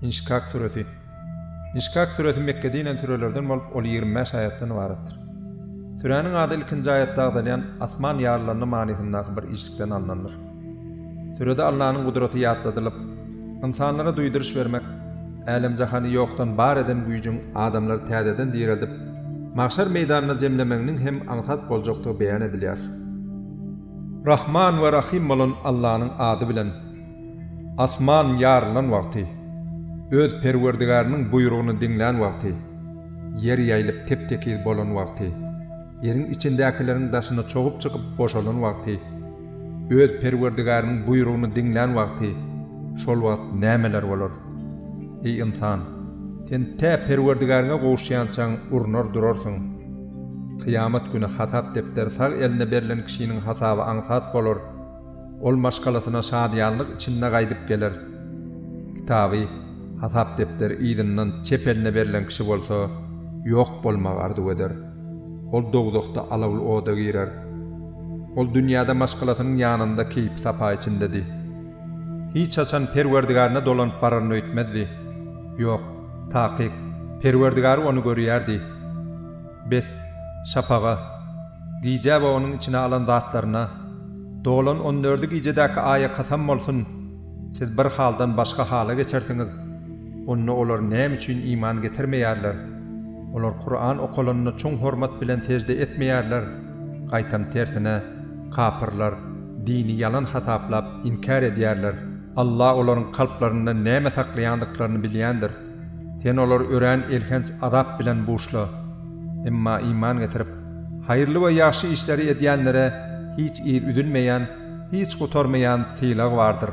Inşkak süresi Inşkak süresi Mekgede inen sürelerden bolup, ol ýigrimi bäş aýatdan ybaratdyr. Süräniň ady ilkinji aýatda agzalýan Asman ýarylandy manysyndaky bir işlikden alnandyr. Sürede Allanyň gudraty ýatladylyp, ynsanlara duýduryş bermek, älem-jahany ýokdan bar eden güýjüň adamlary täzeden direldip, magşar meýdanyna jemlemeginiň hem aňsat boljakdygy beýan edilýär. Rahman we Rahym bolan Allanyň ady bilen. Asman ýarylan wagty, Öz Perwerdigäriniň buýrugyny diňlän wagty, ýer ýaýylyp tep-tekiz bolan wagty, ýeriň içindäkileriň daşyna çogup çykyp boşalan wagty, Öz Perwerdigäriniň buýrugyny diňlän wagty, şol wagt nämeler bolar? Eý, ynsan! Sen tä Perwerdigäriňe gowuşýançaň urnar durarsyň. Kyýamat güni hasap depderi sag eline berlen kişiniň hasaby aňsat bolar. Ol maşgalasyna şadyýanlyk içinde gaýdyp geler. Kitaby, hasap depderi yzyndan çep eline berlen kişi bolsa, ýok bolmagy arzuw eder. Ol dowzahda alawly oda girer. Ol dünýäde maşgalasynyň ýanynda keýpi-sapa içindedi. Hiç haçan Perwerdigarine dolanyp bararyny öýtmezdi. Ýok. Takyk, Perwerdigary ony görýärdi. Bes, şapaga, gijä we onuň içine alan zatlaryna, dolan on dördi gijedäki aýa kasam bolsun, siz bir haldan başga hala geçersiňiz, onda olar näme üçin iman getirmeýärler? Olar Kuran okalanda çuň hormat bilen sežde etmeýärler, gaýtam tersine, kapyrlar, dini ýalan hasaplap, inkär edýärler. Allah olaryň kalplarynda näme saklaýandyklaryny bilýändir. Sen olary örän elhenç azap bilen buşla. Emma iman getirip, haýyrly we ýagşy işleri edýänlere hiç yz üzülmeýän, hiç gutarmaýan sylag bardyr.